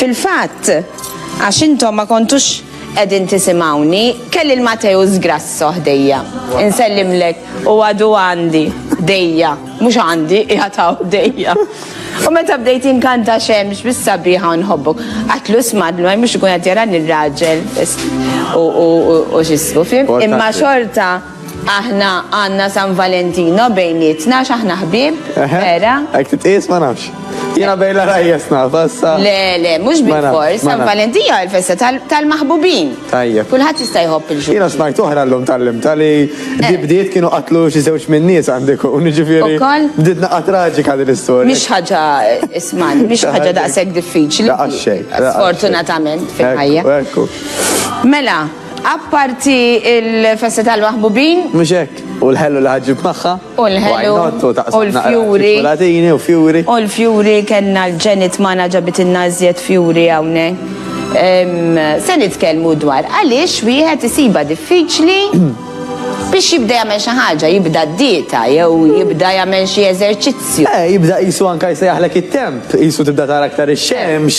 Fil-fatt, għax intom ma kontux edin tisimawni, kelli l-Matew zgrasso ħdejja. Insellimlek u għadu għandi, dejja, mux għandi, iħataw dejja. U meta bdejt inkanta xemx bis sabiħa nħobbu. Għatlu smadlu, għaj mux ikun għatjara nir-raġel u xisku, fim? Imma xorta. Aħna għandna San Valentino bejnietna għax aħna ħbieb, vera? Hekk titqies ma nafx. Jiena bejn l-għarajjes naf, issa. Le, le, mhux bil-fors, San Valentino hi l-festa tal-maħbubin. Tajjeb. Kulħadd jista' jħobb il-ġurnata. Jiena smajt oħra llum tallimt li eh. di bdiet kienu qatlu xi żewġ minn nies għandek u niġifieri. Ukoll? Bdiet naqgħa traġika din l-istorja. Mhix ħaġa isman, mhix ħaġa daqshekk diffiċli. Sfortunatament fil-ħajja. Mela, Apparti il-festa tal-maħbubin. Mhux hekk, u l-ħellu li ħaġġib magħha. U l-ħellu. U l-fjuri. Latini u fjuri. U l-fjuri kellna l-ġenit magħna ġabit in-nażjed fjuri hawnhekk. Se nitkellmu dwar għaliex wieħed isiba diffiċli biex jibda jagħmel xi ħaġa, jibda d-dieta jew jibda jagħmel xi eżerċizzju. Eh, jibda qisu anke jsejjaħlek it-temp, qisu tibda tara aktar ix-xemx.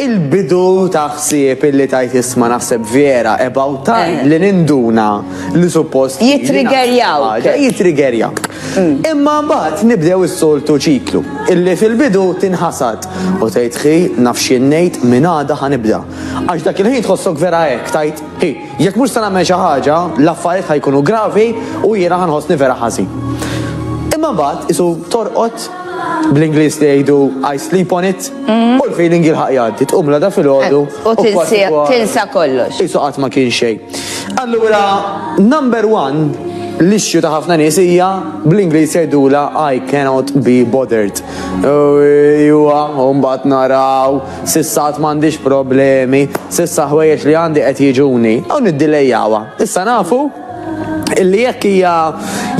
Il-bidu ta' ħsieb illi tgħid isma' naħseb Vera about time li ninduna li suppost fili naħseb xi Jitriggerjawk. ħaġa, jitriggerjawk. Imma mbagħad nibdew is-soltu ċiklu illi fil-bidu tinħasad u tgħid hi naf x'jien ngħid minn għada ħa nibda. Għax dak il-ħin tħossok vera hekk, tgħid hi jekk mhux se nagħmel xi ħaġa l-affarijiet ħa jkunu gravi u jiena ħa nħossni vera ħażin. Imma mbagħad qisu torqod. bl-Ingliż li jgħidu I sleep on it, u l-feeling jilħaq jgħaddi, tqum l-għada fil-ħodu. Eh, u tinsi- kważi kwa- tinsa kollox. Isu qatt ma kien xejn. Allura, number one, l-issue ta' ħafna nies hija bl-Ingliż jgħidula I cannot be bothered. U Iwa, u mbagħad naraw, sissa qatt m'għandix problemi, sissa ħwejjeġ li għandi qed jiġuni. U niddilejjawa. Issa nafu illi jekk hija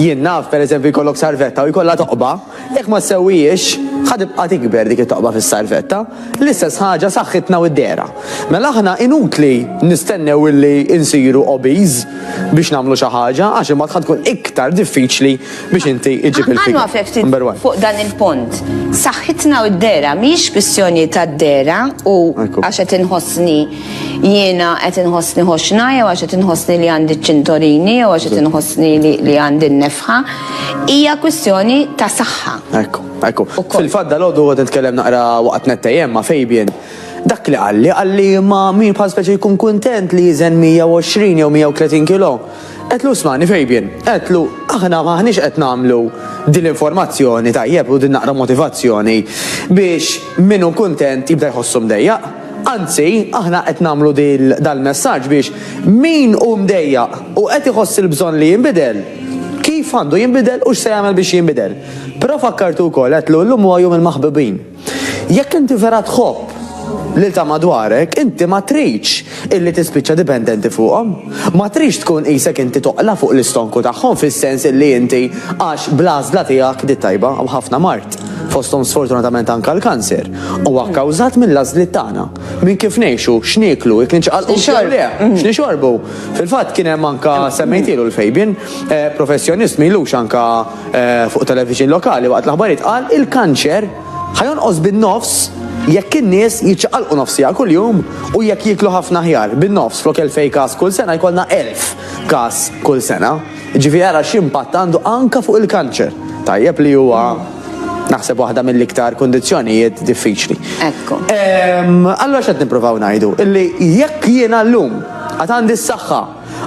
jien naf pereżempju jkollok sarvetta u jkollha toqba, jekk ma ssewwihiex ħa tibqa' tikber dik it-toqba fis-sarvetta. L-istess ħaġa saħħitna u d-dehra. Mela aħna inutli nistennew illi nsiru obese biex nagħmlu xi ħaġa għax imbagħad ħa tkun iktar diffiċli biex inti ġġib il-figure. Ħa nwaqfek ftit fuq dan il-punt. Saħħitna u d-dehra mhijiex kwistjoni tad-dehra u għax qed inħossni jiena qed inħossni ħoxna jew għax qed inħossni li għandi ċintorini jew għax qed inħossni li għandi n-nefħa. Hija kwistjoni ta' saħħa. Ekku, ekku. Fil-fadda l-għodu għod nitkellem naqra waqt nettejem ma' Fabian. Dak li għalli, għalli ma' min bħal speċi jkun kontent li jizen 120 jew 130 kilo. Għedtlu smani Fabian, għedtlu aħna maħniex qed nagħmlu din l-informazzjoni tajjeb u din naqra motivazzjoni biex min hu kuntent jibda jħossu mdejjaq. Anzi, aħna qed nagħmlu dal-messaġġ biex min hu mdejjaq u qed iħoss il-bżonn li jinbidel, kif għandu jinbidel u x'se jagħmel biex jinbidel. Però fakkartu wkoll, għedtlu llum huwa jum il-maħbubin. Jekk inti vera tħobb lil ta' madwarek, inti ma tridx illi tispiċċa dipendenti fuqhom. Ma tridx tkun qisek inti toqla' fuq l-istonku tagħhom fis-sens illi inti għax bl-għażla tiegħek di t-tajba u ħafna mard, fosthom sfortunatament anke l-kanser, huwa kkawżat mill-għażliet tagħna, minn kif ngħixu, x'nieklu, jekk niċċaqalqux jew le, x'nixorbu. Fil-fatt kien hemm anke, semmejtielu l-Fabian, professjonist m'ilux anke, Fuq television lokali waqt l-aħbarijiet qal il-kanċer ħa jonqos bin-nofs jekk in-nies jiċċaqalqu nofs siegħa kuljum u jekk jieklu ħafna aħjar, bin-nofs flok 2,000 każ kull sena jkollna 1,000 każ kull sena. Jiġifieri ara x'impatt għandu anke fuq il-kanċer. Tajjeb li huwa naħseb waħda mill-iktar kundizzjonijiet diffiċli. Ekku. Allura x'qed nippruvaw ngħidu? Illi jekk jiena llum għad għandi s-saħħa,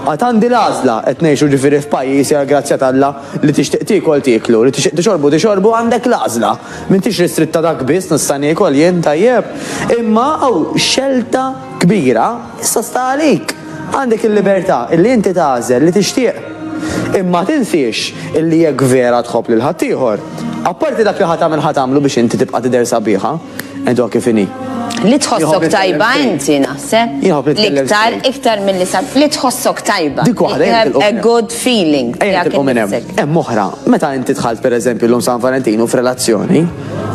Għad għandi l-għażla, qed ngħixu ġifieri f'pajjiż hija l-grazzja t'Alla li tixtieq tiekol tieklu, li tixtieq tixorbu tixorbu għandek l-għażla. M'intix ristritta dak biss nista' niekol jien, tajjeb? Imma hawn xelta kbira, issa sta għalik. Għandek il-libertà illi inti tagħżel li tixtieq. Imma tinsiex illi jekk vera tħobb lil ħaddieħor, apparti dak li ħa tagħmel ħa tagħmlu biex inti tibqa' tidher sabiħa. Edo kif inhi. Li tħossok tajba inti naħseb. Iktar, iktar mill-li sab. Li tħossok tajba. Dik waħda. A good feeling. Hemm oħra, meta inti tħalt per eżempju l-lum San Valentinu f'relazzjoni,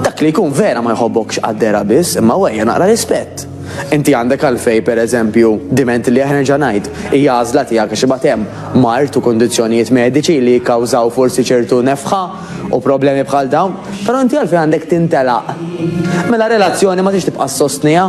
dak li jkun vera ma jħobbokx għaddera biss, imma wejja naqra rispett. Inti għandek għalfej per eżempju diment li aħna ġanajt, hija għażla tiegħek għax ibatem mart u kondizzjonijiet mediċi li jikkawżaw forsi ċertu nefħa u problemi bħal dawn, però inti għalfejn għandek tintelaq. Mela relazzjoni ma tix tibqa' sostnija.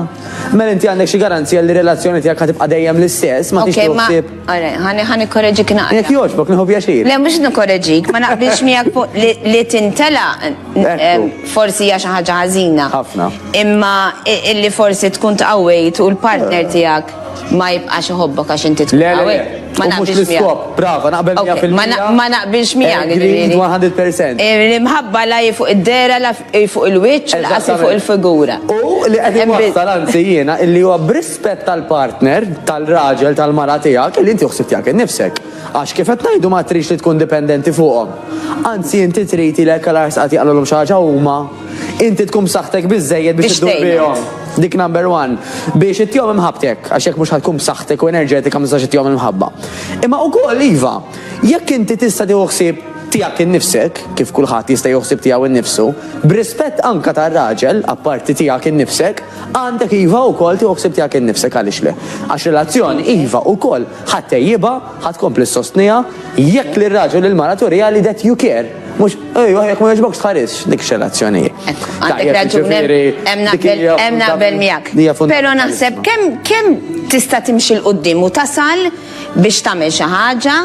Mela inti għandek xi garanzija li relazzjoni tiegħek ħa tibqa' dejjem l-istess, ma tix toħsib. Ħani ħani korreġik naqra. Jekk jogħġbok nieħu pjaċir. Le mhux nikkorreġik, ma naqbilx miegħek li tintelaq eh, forsi hija xi ħaġa ħażina. Ħafna. Imma illi forsi tkun tqawwejt u l-partner eh. tiegħek Ma jibqax iħobbok għax inti tkun għawek. Ma naqbilx l-iskop, brava, naqbel 100%. Ma naqbilx miegħek. 100%. L-imħabba la fuq id-dera, la fuq il-wiċċ, la fuq il-figura. U li qed nwassal anzi jiena illi huwa b'rispett tal-partner, tal-raġel, tal-mara tiegħek, li inti uħsib tiegħek innifsek. Għax kif qed ngħidu ma tridx li tkun dipendenti fuqhom. Anzi inti trid ilek għal ars qagħad jaqlgħulhom xi ħaġa huma, inti tkun b'saħħtek biżżejjed biex iddur bihom. Dik number one. Biex ittihom imħabbtek, għax jekk mhux ħa tkun b'saħħtek u enerġetika ma tistax ittihom il-mħabba. Imma ukoll iva, jekk inti tista' tieħu ħsieb tiegħek innifsek, kif kulħadd jista' jieħu ħsieb tiegħu nnifsu, b'rispett anke tar-raġel, apparti tiegħek innifsek, għandek iva ukoll tieħu ħsieb tiegħek innifsek għaliex le. Għax relazzjoni iva ukoll. Ħa ttejjibha, ħa tkompli ssostniha, jekk lir-raġel u l-mara turiha li that you care. Mhux, ejwa, jekk ma jogħġbokx tħarisx, dik xi relazzjoni hi. Għandek raġun, hemm naqbel miegħek. Però naħseb kemm tista' timxi 'l quddiem u tasal biex tagħmel xi ħaġa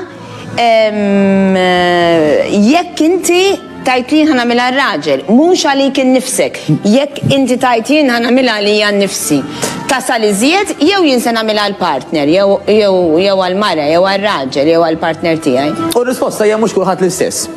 jekk inti Tgħid li jien ħa nagħmilha għar-raġel, mhux għalik innifsek. Jekk inti tgħid jien ħa nagħmilha għalija nnifsi, tasal iżjed jew jien se nagħmilha għall-partner jew għall-mara jew għar-raġel jew għall-partner tiegħi. U r-risposta hija mhux kulħadd l-istess.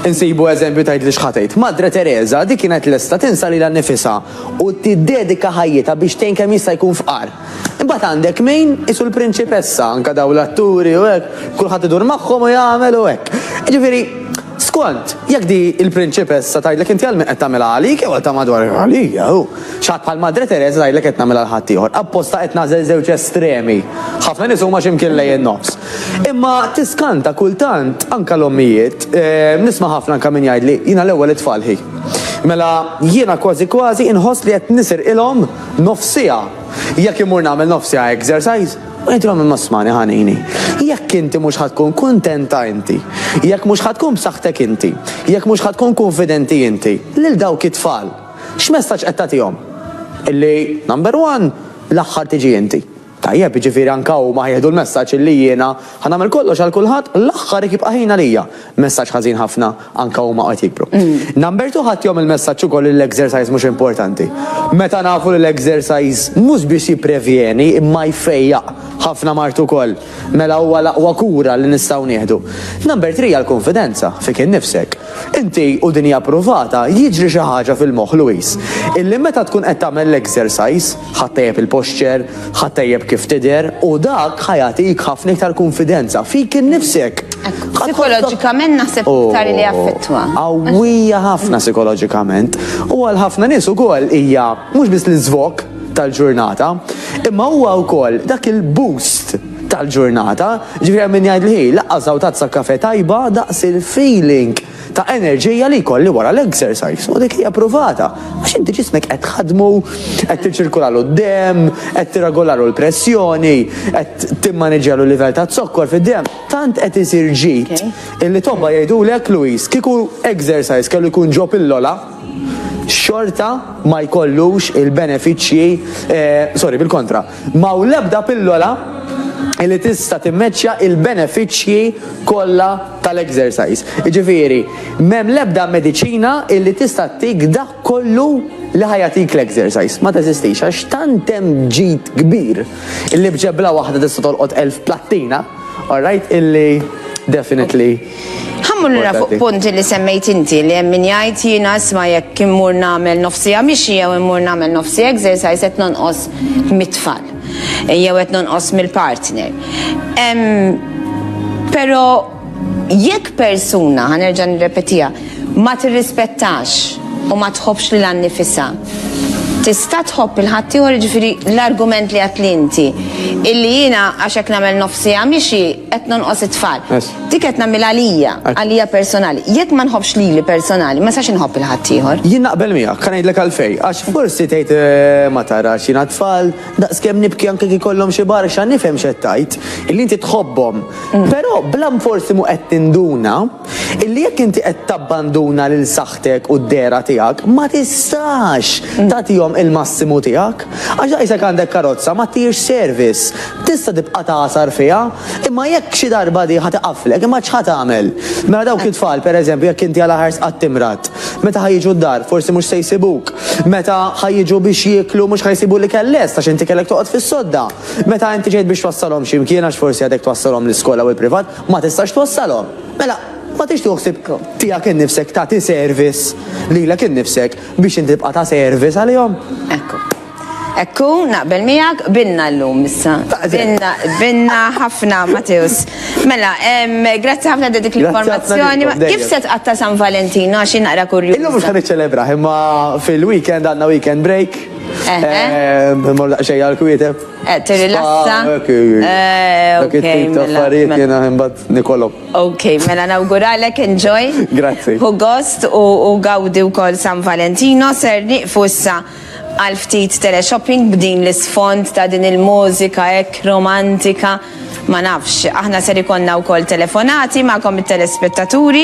Insibu eżempju tgħidli x'ħa tgħid. Madre Tereża, dik kienet lesta tinsa lilha nnifisha u tiddedika ħajjitha biex tgħin kemm jista' jkun fqar. Imbagħad għandek min qisu l-prinċipessa, anke dawn l-atturi u hekk, kulħadd idur magħhom u jagħmel u hekk. Jiġifieri, skont, jekk di l-prinċipessa tgħidlek inti għal min qed tagħmilha għalik jew għal ta' madwar għalija hu. X'ħadd bħal Madre Teresa tgħidlek qed nagħmilha għal ħaddieħor. Apposta qed nagħżel żewġ estremi. Ħafna nies huma xi mkien lejn in-nofs. Imma tiskanta kultant anke l-ommijiet, eh, nisma' ħafna anke min jgħidli jiena l-ewwel it-tfal ħi. Mela jiena kważi kważi inħoss li qed nisirqilhom Nofs siegħa? Jekk immur nagħmel nofs siegħa exercise, u inti għamel ma smani ħanini. Jekk inti mhux ħa tkun kuntenta inti. Jekk mhux ħa tkun b'saħħtek inti. Jekk mhux ħa tkun kunfidenti inti. Lil dawk it-tfal. X'messaġġ qed tagħtihom? Illi, number one, l-aħħar tiġi inti. Tajjeb, jiġifieri anke huma ħajieħdu l-messaġġ illi jiena ħa nagħmel kollox għal kulħadd, l-aħħar jekk jibqa' ħin għalija. Messaġġ ħażin ħafna, anke huma qed jikbru. Number two ħadd jgħomm il-messaġġ ukoll li l-exercise mhux importanti. Meta nafu li l-exercise mhux biss jipprevjeni imma jfejjaq ħafna mard ukoll, mela huwa l-aqwa kura li nistgħu nieħdu. Number three hija l-kunfidenza fik innifsek. Inti, u din hija ppruvata, jiġri xi ħaġa fil-moħħ, Louise, illi meta tkun qed tagħmel l-exercise, Ħa ttejjeb il-posture, ħa ttejjeb kif tidher u dak ħa jagħtik ħafna iktar kunfidenza fik innifsek. Psikoloġikament naħseb iktar li jaffettwa. Qawwija ħafna psikoloġikament u għal ħafna nies ukoll hija mhux biss l-iżvok tal-ġurnata, imma huwa wkoll dak il-boost tal-ġurnata, ġifieri hemm min jgħid li hi laqqas żgħutazza kafe tajba daqs il-feeling ta' enerġija li jkolli wara l-exercise. U dik hija pruvata, għax inti ġismek qed tħaddmu, qed tiċirkulalu d-demm, qed tirregolalu l-pressjoni, qed timmaniġġjalu l-livell taz-zokkor fid-demm. Tant qed isir ġid illi tobba jgħidulek, Louise, kieku exercise kellu jkun ġo pillola, xorta ma jkollux il-benefiċċji, sorry, bil-kontra, Ma hawn l-ebda pillola li tista' timmeċċja l-benefiċċji kollha tal-exercise. Jiġifieri, m'hemm l-ebda mediċina li tista' ttik dak kollu li ħa jagħtik l-exercise. Ma teżistix għax tant hemm ġid kbir li b'ġebla waħda tista' tolqot elf plattina, alright, illi definitely. Ħammur lura fuq punti li semmejt inti li hemm min jgħid jiena isma' jekk immur nagħmel nofsija mixi jew immur nagħmel nofsi exercise qed nonqos mit-tfal jew qed nonqos mill-partner. Però jekk persuna, ħa nerġa' nirrepetiha, ma tirrispettax u ma tħobbx lilha nnifisha, tista' tħobb lil ħaddieħor jiġifieri l-argument li għedtli inti illi jiena għax hekk nagħmel nofsija mixi qed nonqos it-tfal. Dik qed nagħmilha għalija, għalija personali. Jekk ma nħobbx lili personali, ma sax inħobb il-ħadd ieħor. Jien naqbel miegħek, kan ngħidlek għalfej, għax forsi tgħid eh, ma tarax jiena tfal, daqskemm nibki anke kif kollhom xi barxa nifhem x'qed tgħid, illi inti tħobbhom. Mm. Però blam forsi mu qed tinduna Illi jekk inti qed tabbanduna lil saħħtek u d-dehra tiegħek, ma tistax tagħtihom il-massimu tiegħek. Għax daqshekk għandek karozza ma ttirx service. Tista' tibqa' tagħsar fiha, imma jekk xi darba di ħa tiqaflek, imma x'ħa tagħmel? Mela dawk it-tfal, per eżempju, jekk inti għal aħars qatt timrad, meta ħa jiġu d-dar forsi mhux se jsibuk. Meta ħa jiġu biex jieklu mhux ħa jsibu l-ikel lest għax inti kellek toqgħod fis-sodda. Meta inti ġejt biex twassalhom xi mkien għax forsi għadek twassalhom l-iskola u l-privat, ma tistax twassalhom, mela ma tixtieq ħsieb tiegħek innifsek tagħti service lilek innifsek biex inti tibqa' ta' service għalihom. Ekku. Ekku, naqbel miegħek, binna llum issa. Binna, binna ħafna Mateus. Mela, grazzi ħafna dik l-informazzjoni. Kif se tqatta' San Valentino għax naqra kurju. Illum mhux ħan iċċelebra, imma fil-weekend għandna weekend break. Ehm, Mor daqsxejn għal kwieteb. Eh, Tirilassa. Dak eh, it-tip ta' mela, affarijiet mela. jena imbagħad nikolok. Ok, mela nawguralek enjoy. Grazzi. Hu gost u gawdi wkoll San Valentino ser niqfu issa għal ftit teleshopping b'din l-isfond ta' din il-mużika hekk romantika. Ma nafx, aħna ser ikonna wkoll telefonati magħkom it-telespettaturi.